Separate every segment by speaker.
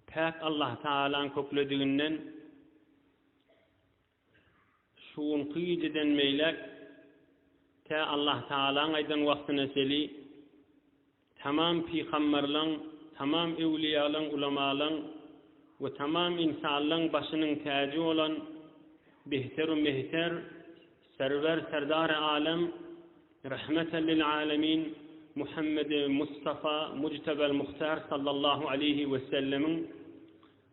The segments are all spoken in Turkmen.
Speaker 1: Päk Allah Tagalaň köklediginden şu günki gijeden beýläk tä Allah Tagalaň aýdan wagtyna çeli tamam pygamberleň, tamam öwliýalaň, ulamalaň we tamam ynsanlaň başynyň täji bolan behter-u mehter Serwer Serdary Alem Rahmeten lil Alemin Muhammedi Mustafa Mujtebel Muhtar Sallallahu Aleýhi we Sellemiň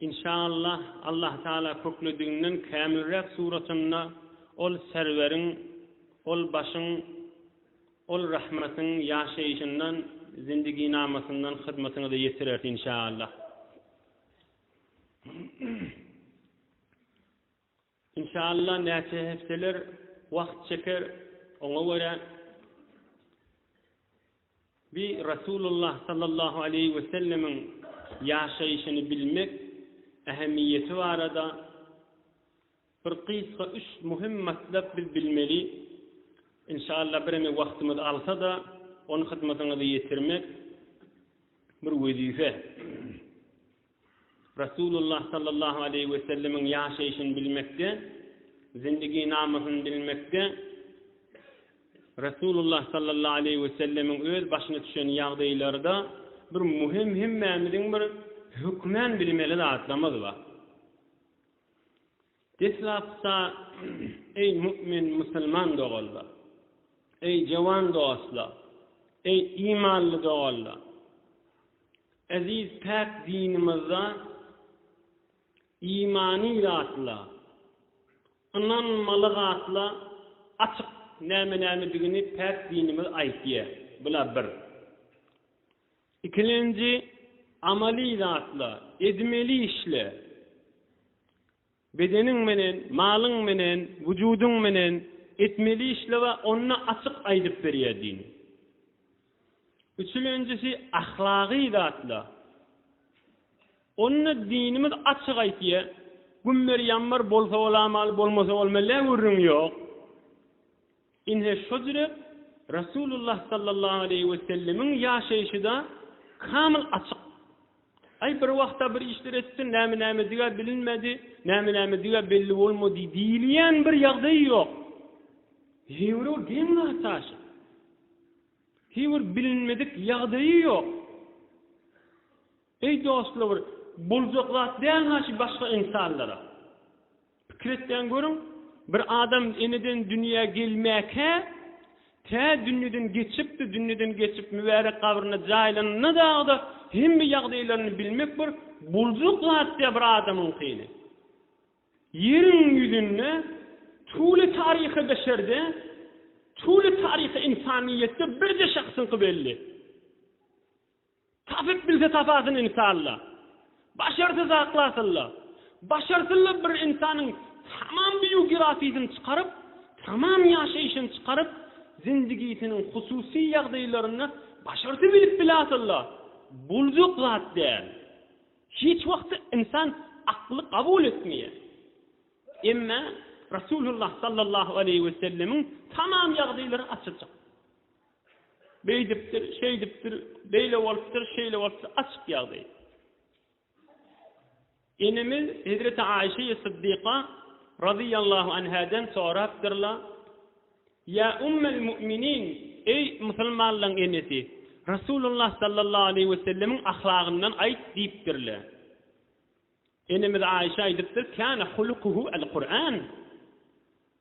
Speaker 1: Inşaallah Allah Taala köklediginden kämilräk suratynda ol Serweriň ol başyň ol rahmatyň ýaşaýşyndan zindiginamasyndan hyzmatyňyza ýetirer inşaallah. Inşalla näçe hepdeler wagt çeker oňa görä bi Rasulullah sallallahu aleýhi we sellemiň ýaşaýşyny bilmek ähemiýeti barada bir gysga üç muhim matlap biz bilmeli inşalla bireme wagtymyz alsada ony hyzmatyňyza ýetirmek bir wezife. Resulullah sallallahu aleýhi we sellemiň ýaşaýşyny bilmekde, zindigynamasyny bilmekde, Resulullah sallallahu aleýhi we sellemiň öz başyna düşen ýagdaýlarda bir muhim hemmämiziň bir hökmän bilmeli zatlarymyz bar. Deslapda, Eý, mu'min musulman doganlar! Eý, jowan dostlar! Eý, imanly doganlar! Eziz päk dinimizde imany zatlar, ynanmaly zatlar açyk näme-nämedigini päk dinimiz aýtýar. Bular bir. Ikilenji, amaly zatla, edmeli işle. Bedeniň menen, malyň menen, wujudyň menen etmeli işle we onda açyk aýdyp berýär dini. Üçülenjisi, ahlagy zatla. Onda dinimiz açyk aýtýar, Gümmer-ýammer bolsa bolamaly, bolmasa bolmaly, gürrüň ýok. Ine şojüre Rasulullah sallallahu aleýhi we sellemiň ýaşaýşyda kamyl açyk. Aý bir wagtda bir işler etsin, näme nämedigä bilinmedi, näme nämedigä belli bolmady diýilýän bir ýagdaý ýok. Heýwir ol geň wagt aşyp. Heýwir bilinmedik ýagdaýy ýok. Eý dostlar bir boljak zat dälmi şu başga ynsanlara? Pikir etýän görüň bir adam eneden dünýä gelmäkä tä dünýeden geçipdi dünýeden geçip mübärek gabryna jaýlanana dagda hemme ýagdaýlaryny bilmek bir boljak zat dä bir adamyňkyny ýeriň ýüzünde tüwli taryhy beşerde tüwli taryhy ynsanyýetde birje şahsyňky belli. Tapyp bilse tapasyn insalla. Başarsa zaklasylla. Başarsylla bir insanyň tamam biýugrafiýasyny çykaryp, tamam ýaşaýşyny çykaryp, zindigisiniň hususy ýagdaýlaryny başarsa bilip bilasylla. Boljak zat däl. Hiç wagtda insan akly kabul etmeýär. Emma Rasulullah sallallahu aleýhi wesellemiň tamam ýagdaýlary açyljak. Beýdipdir, şeýdipdir, beýle bolupdyr, şeýle bolupdyr, açyk ýagdaý. Enemiz Hezreti Aişeýi Syddyka razyýallahu anhadan sorapdyrlar, Ýa Ummel Mu'minin, eý musulmanlaryň enesi, Resulullah sallallahu aleýhi we sellemiň ahlagyndan aýt diýipdirler. Enemiz Aişe aýdypdyr, Kana hulukuhu el-Kur'an.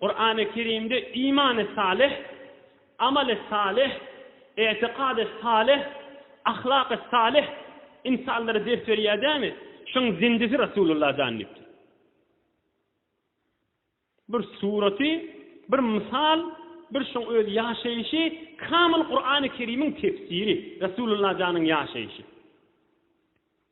Speaker 1: Kurany Kerimde imany salyh, amaly salyh, etikady salyh, ahlaky salyh ynsanlara ders berýär dämi? Şuň zindisi Rasulullah jan diýipdir. Bir suraty, bir mysal, bir şuň öz ýaşaýşy kamyl Kurany Kerimiň tefsiri, Rasulullah janyň ýaşaýşy.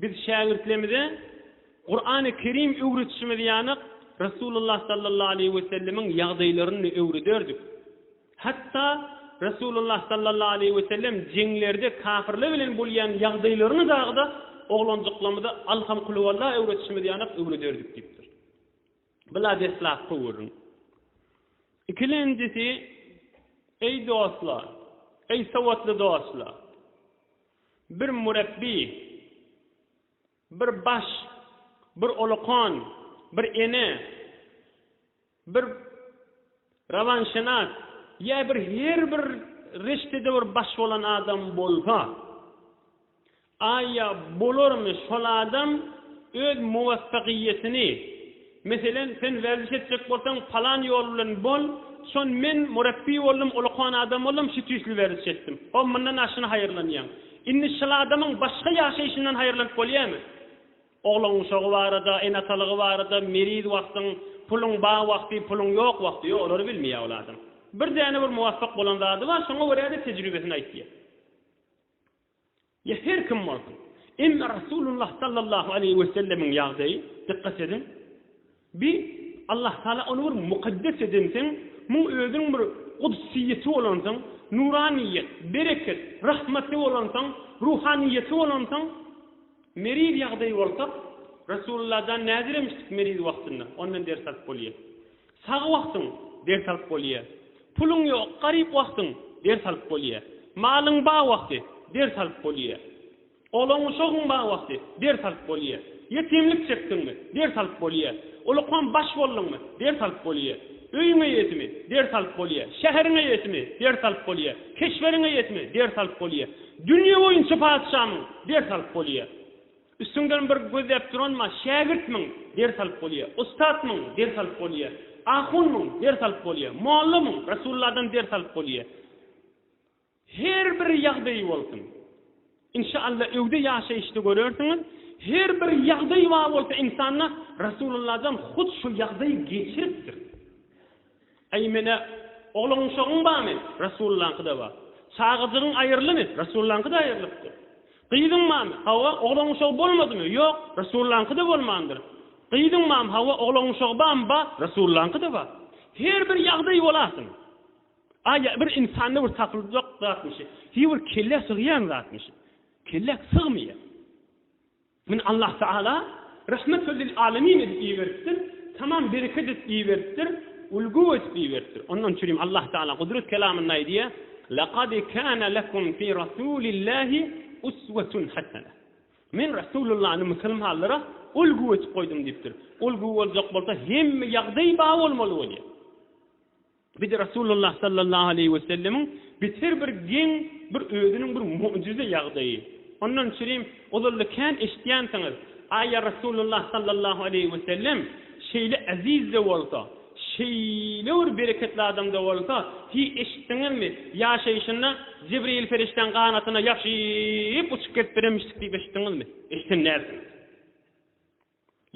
Speaker 1: Biz şägirtlerimize Kurany Kerim öwretişimiz ýaly Resulullah sallallahu aleýhi we sellemiň ýagdaýlaryny-da öwrederdik. Hatda Resulullah sallallahu aleýhi we sellem jeňlerde kafirler bilen bolýan ýagdaýlaryny dagyda oglanjyklarymyza Alham Kulhuwalla öwretişimiz ýaly öwrederdik diýipdir. Bula deslapky görüň. Ikilenjisi, Eý dostlar, eý sowatly dostlar! Bir mürepbi, bir baş, bir olakan, bir ene, bir rawanşenas ýa bir her bir reştede bir baş bolan adam bolsa, aýa bolarmy şol adam öz muwaffagyýetini, Meselen, sen werziş etjek bolsaň, palan ýol bilen bol, şon men murapbiý boldum, ulukan adam boldum, şu tüýsli werziş etdim. Hop, mundan aşyna haýyrlanýaň. Indi şyl adamyň başga ýaşaýşyndan haýyrlanyp bolýamy? Oglan guşagy barada, ene-atalygy barada, meriz wagtyň, puluň bar wagty, puluň ýok wagty, ýok, olary bilmeýär ol adam. Bir däne bir muwapyk bolan zady bar, şoňa görä-de tejribesini aýtýar. Ýa her kim bolsun. Emma Rasulullah sallallahu aleýhi wesellemiň ýagdaýy, dykgat ediň, bi Allah Taala ony bir mukaddes edensoň, muň özüniň bir gudsyýeti bolansoň, nuranyýet, bereket, rahmaty bolansoň, ruhanyýeti bolansoň, meriz ýagdaýy bolsa, Rasulullahdan näzir emişdik meriz wagtynda, ondan ders alyp bolýar. Sag wagtyň, ders alyp bolýa. Puluň ýok, garyp wagtyň, ders alyp bolýa. Malyň ba wagty, ders alyp bolýa. Olaň uşagyň ba wagty, ders alyp bolýa. Ýetimlik çekdiňmi, ders alyp bolýa. Ulukam baş bolduňmy, ders alyp bolýa. Öýüň eýesimi, ders alyp bolýa. Şäheriň eýesimi, ders alyp bolýa. Keşberiň eýesimi, ders alyp bolýa. Dünýe boýunça patyşamyň, ders alyp bolýa. Üstüňden bir gözläp duranma, Şägirtmiň, ders alyp bolýa. Ussatmyň, ders alyp bolýa. Ahunmyň, ders alyp bolýa. Mollamyň, Resulladan ders alyp bolýa. Her bir ýagdaýy bolsun. Inşa Alla öwde ýaşaýyşda görersiňiz, her bir ýagdaýy bar bolsa insanda, Resulladan hut şu ýagdaýy geçiripdir. Eý menä, oglan-uşagyň barmy? Resulyňkyda bar. Çagajygyň aýrylymy? Resulyňkyda aýrylypdyr. Gyzyň barmy? Hawa, oglan-uşagy bolmadymy? Ýok, Resulyňkyda bolmandyr. Gyzyň barmy? Hawa, oglan-uşagy barmy? Bar, Resulyňkyda bar. Her bir ýagdaý bolarsyň. A ýa bir insanda bir tapyljak zatmyşy? Hi bir kellä sygýan zatmyşy? Kellä sygmaýar. Muny Allah Tagala Rahmet we lil alemin edip iberipdir, tamam bereket edip iberipdir, ulgu edip iberipdir. Onda şunuň üçin Allah Tagala Gudrat Kelamynda aýdýar, Lekad kana lekum fi Rasulillahi uswetun hasene. Men Rasulullany musulmanlara ulgu edip goýdum diýipdir. Ulgu boljak bolsa hemme ýagdaý bar bolmaly bolýar. Biz Rasulullah sallallahu aleýhi we sellemiň biz her bir geň bir özüniň bir mu'jize ýagdaýy. Ondan üçinem ozalda kän eşitýänsiňiz, Aý ýa Rasulullah sallallahu aleýhi we sellem şeýle eziz-de bolsa, şeýle bir bereketli adam-da bolsa, hiý eşitdiňizmi, ýaşaýşynda Jibreýil perişdäň ganatyna ýapyşyp uçup gezip bilenmişdik diýip eşitdiňizmi? Eşiden dälsiňiz.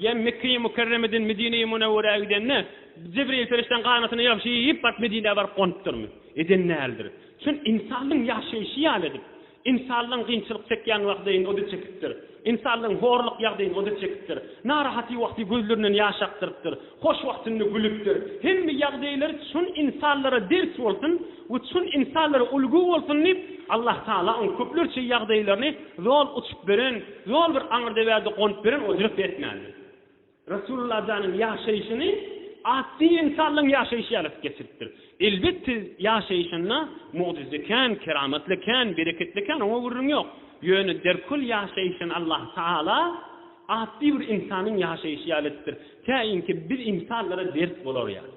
Speaker 1: Ýa Mekge-i Mükerremeden Medine-i Münewwerä gidende, Jibril perişdäň ganatyny ýagşy iýip baryp Medinä baryp gonupdyrmy? Eden däldir. Çün ynsanlaň ýaşaýşy ýaly edip, ynsanlaň gynçylyk çekýän wagdyn o-da çekipdir, ynsanlaň horluk ýagdyn o-da çekipdir, narahaty wagty gözlerinden ýaş akdyrypdyr, hoş wagtynda gülüpdir. Hemme ýagdaýlar çün ynsanlara ders bolsun we çün ynsanlara ulgy bolsun diýip, Allatagala oň köplerçe ýagdaýlaryny zol uçup beren, Ýol bir aňyrdeberde gonup beren ojak däsmändi. Resulullah janyň ýaşaýşyny ady ynsanlaň ýaşaýşy ýaly geçiripdir. Elbetde, ýaşaýşynda mugjyza kän, keramatly kän, bereketli kän, oňa gürrüň ýok. Ýöne derkül ýaşaýşyny Allah Tagala ady bir ynsanyň ýaşaýşy ýaly etipdir. Käýinki biz ynsanlara ders bolar ýaly.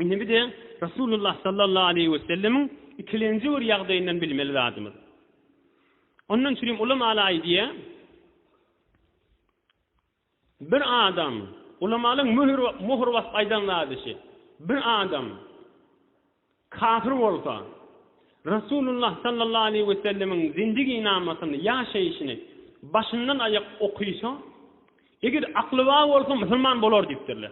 Speaker 1: Indi bize Resulullah sallallahu aleýhi we sellemiň ikilenji bir ýagdaýyndan bilmeli zadymyz. Ondan üçin hem ulamaly aýdýar, Bir adam, ulamalyň möhür möhür basyp aýdan zady şu. Bir adam kafir bolsa, Resulullah sallallahu aleýhi we sellemiň zindigi namasyny, ýaşaýşyny başyndan aýak okysa, eger akly bar bolsa musulman bolar diýipdirler.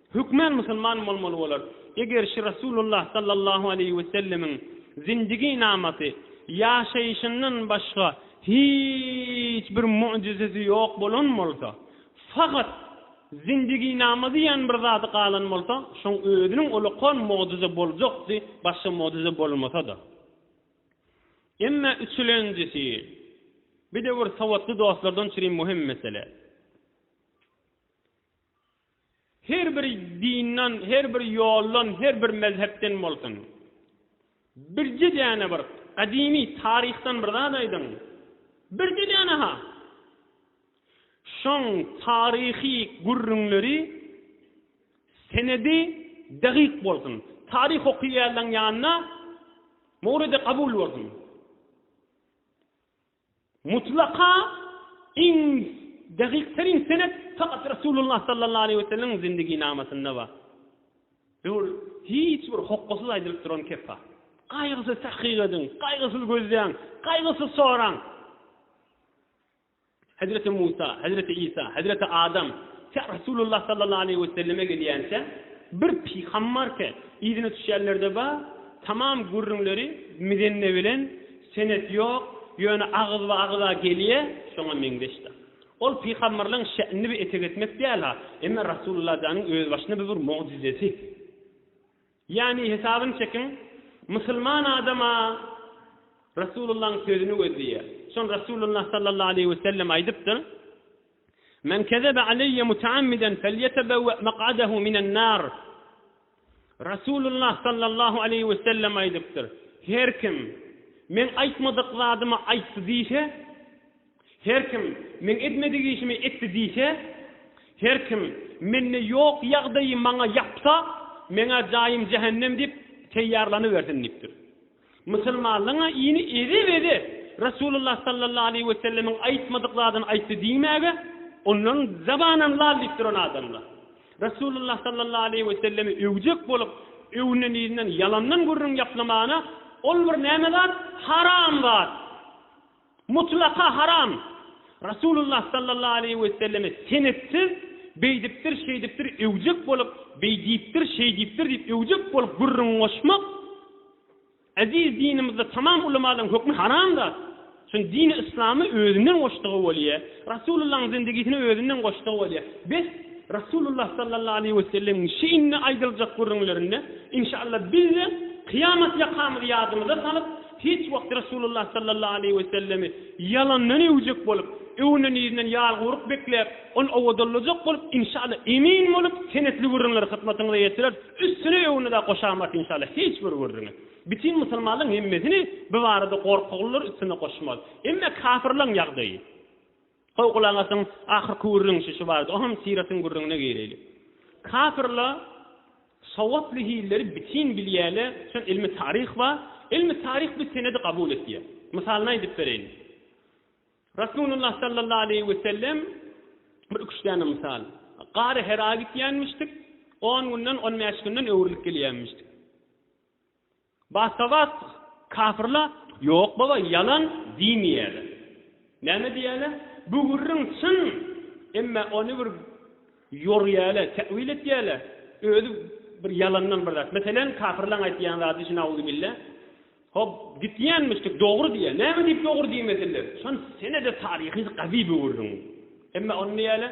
Speaker 1: Hökmän musulman bolmaly bolar. Eger şi Rasulullah sallallahu aleýhi we sellemiň zindigi namasy, ýaşaýşyndan başga hiç bir mugjizesi ýok bolan bolsa, fakat zindigi nama diýen bir zady galan bolsa, şoň özüniň ulakan mugjyza boljakdy, başga mugjyza bolmasa-da. Emma üçülenjisi, bidewir sowatly dostlardan çüri muhim mesele. Her bir dindan, her bir ýoldan, her bir mezhepden bolsun. Birje däne bir gadymy taryhdan bir zat aýdyň. Birje däne-ha! Şoň taryhy gürrüňleri, senedi degiq bolsun. Taryh okaýanlaň ýanyna mowlidi kabul bolsun. Mutlaka iň dagykterin senet fakat Resulullah sallallahu aleýhi we sellemiň zindiginamasyna bar. Ol hiç bir hokgasyz aýdylyp duran kepba. Gaýgysyz tahkyk ediň, gaýgysyz gözleýň, gaýgysyz soraň. Hezreti Musa, Hezreti Isa, Hezreti Adam tä Resulullah sallallahu aleýhi we selleme gelýänçä bir pygambarke yzyna düşýänlerde bar, tamam gürrüňleri mizenne bilen Senet ýok, ýöne agyzba-agyza gelýä, şoňa meňzeşdir. Ol pygamberleň şe'nini bir etek etmek däl-ha, emma Rasulullah janyň özbaşyna bir bir mugjizesi. Ýagny, hesabyny çekiň, musulman adam-a Rasulullahyň sözüni gözleýär. Şony Rasulullah sallallahu aleýhi we sellem aýdypdyr, Men kezebe aleýe mutaammidan felýetebewe mak'adehu minen nar. Resulullah sallallahu aleýhi we sellem aýdypdyr, Her kim Meň aýtmadyk zadymy aýtdy diýse, her kim Meň etmedik işimi etdi diýse, her kim Mende ýok ýagdaýy maňa ýapsa, Meň-ä jaýym jähennem diýip, teýýarlanybersin diýipdir. Musulmanlaryň-a ini ede-bede Resulullah sallallahu aleýhi we sellemiň aýtmadyk zadyny aýtdy diýmäge onlaryň zabanam lal diýip duran adamlar. Resulullah sallallahu aleýhi we sellemi öwjek bolup, öwünen-iýnen ýalandan gürrüň ýaplamagyna ol bir näme zat? Haram zat! Mutlaka haram! Rasulullah sallallahu aleýhi weselleme senetsiz, beýdipdir, şeýdipdir öwjek bolup, beý diýipdir, şeý diýipdir diýip öwjek bolup gürrüň goşmak Eziz dinimizde tamam ulamalyň hökmi haram zat. Şun dini yslamy özünden goşdugy bolýa, Rasulullahyň zindigisini özünden goşdugy bolýa. Bes, Rasulullah sallallahu aleýhi wesellemiň şi indi aýdyljak gürrüňlerinde, inşallah, bizde kyýamat ýakamyzy ýadymyza salyp, Hiç wagt Resulullah sallallahu aleýhi we sellemi ýalandan öwjek bolup, öwünen ýerinden ýalguruk bekläp, ony owadallajak bolup, inşallah, emin bolup, senetli gürrüňleri hyzmatyňyza ýetireris, üstüne öwünede goşamat inşallah hiç bir gürrüňi. Bütin musulmanlaryň hemmesini bu barada gorkaglylar üstüne goşmaz. Emma kafirlaryň ýagdaýy. Goý, gulak asyň, ahyrky gürrüň şu barada, o hem syratyň gürrüňine gireýlik. Kapyrlar sogaply hilleri bitin bilýärler, üçin ylmy taryh bar, ylmy taryh bu senedi kabul etýär. Mysalyny aýdyp bereýin. Rasulullah sallallahu aleýhi we sellem bir iki-üç däne mysal. Gary Hera gitýänmişdik, on günden, on bäş günden öwrülip gelýänmişdik. Basta-bas kafirla Ýok baba, ýalan diýmeýäler. Näme diýýäler? Bu gürrüň çyn, emma ony bir ýorýäler, täwil etýäler. Özi bir ýalandan bir zat. Meselem, kafirlaň aýdýan zady şu nauzubilla, Hop, gitýänmişdik, dogry diýýär. Näme diýip dogry diýmesinler? Şony senede taryhy gazy bu gürrüň. Emma ony näýäler?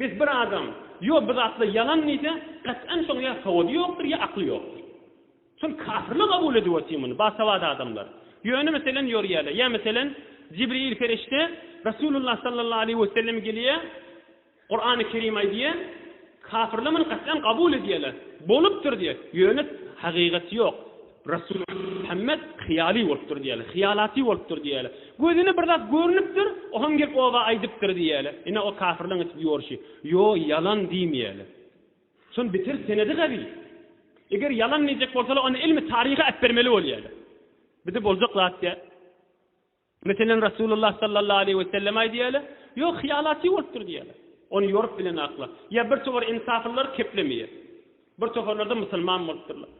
Speaker 1: Bes bir adam ýo bir zatlar ýalan diýse gat'an şoň ýa sowady ýokdur ýa akly ýokdur. Şol kafirler kabul edip otyr muny bagsawada adamlar. Ýöne meselen ýorýäler ýa meselen Jibril perişde Rasulullah sallallahu aleýhi we sellem gelýä Kur'any kerim aýdýa kafirler muny gat'an kabul edýäler bolupdyr diýä ýöne hagygaty ýok. Resul Muhammet hyýaly bolupdyr diýýärler. Hyýalaty bolupdyr diýýärler. Gözüne bir zat görnüpdir, o hem gelip oba aýdypdyr diýýärler. Ine o kafirleň etip ýorşy. Ýo, ýalan diýmeýärler. Şonuň beter senedi gawy. Eger ýalan diýjek bolsalar, onda ilmi taryhy äpbermeli bolýarlar. Bize boljak zat däl. Meselem, Resulullah sallallahu aleýhi we sellem-aý diýäýler, Ýok, hyýalaty bolupdyr diýäýler. Ony ýorup bilen akla. Ýa bir towar ensaflylar keplemeýär. Bir tofarlarda musulman bolupdyrlar.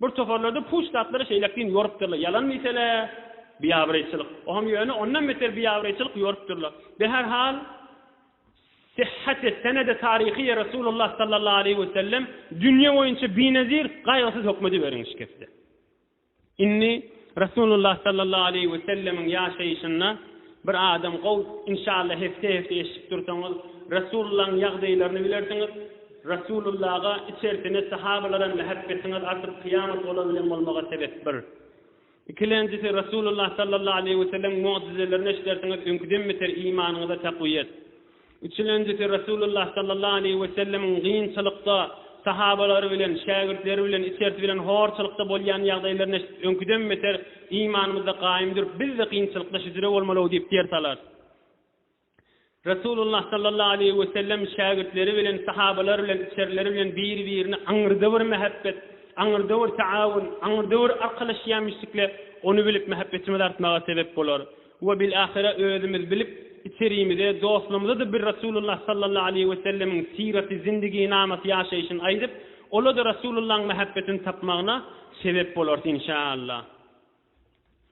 Speaker 1: Bir tofarlarda puç zatlary şeýläk deýin ýorupdyrlar. Ýalan diýsene, biabraýçylyk. O hem ýöne ondan beter biabraýçylyk ýorupdyrlar. Be her hal, syhhate, senede, taryhyýe Resulullah sallallahu aleýhi we sellem dünýe boýunça binezir, gaýgysyz hökmediberiň şikesde. Indi Resulullah sallallahu aleýhi we sellemiň ýaşaýşynda bir adam gow, inşallah hepde hepde eşidip dursaňyz Resulullaň ýagdaýlaryny bilersiňiz, Resulullaga içersine sahabalara mähebbetiňiz artyp kyýamat olar bilen bolmaga sebep bir. Ikilenjisi Resulullah sallallahu aleýhi we sellemiň mugjizelerini eşidersiňiz öňküden beter imanyňyza takwyýet. Üçülenjisi Resulullah sallallahu aleýhi we sellemiň gynçylykda sahabalary bilen, şägirtleri bilen, içersi bilen horçylykda bolýan ýagdaýlaryny eşidip, öňküden beter imanymyzda gaýym durup, biz-de gynçylykda şüdüre bolmaly-ow diýip ders alarys. Resulullah sallallahu aleýhi we sellem şägirtleri bilen, sahabalary bilen, içerileri bilen biri-birini aňyrda bir mähebbet, aňyrda bir taawun, aňyrda bir arkalaşýamyşdikle, ony bilip mähebbetimiz artmaga sebep bolar. We bilahira özümiz bilip, içerimize, dostlarymyza-da bir Resulullah sallallahu aleýhi we sellemiň syraty zindiginamaty ýaşaýşyny aýdyp, ola-da Resulullahyň mähebbetini tapmagyna sebep bolarys, inşaallah.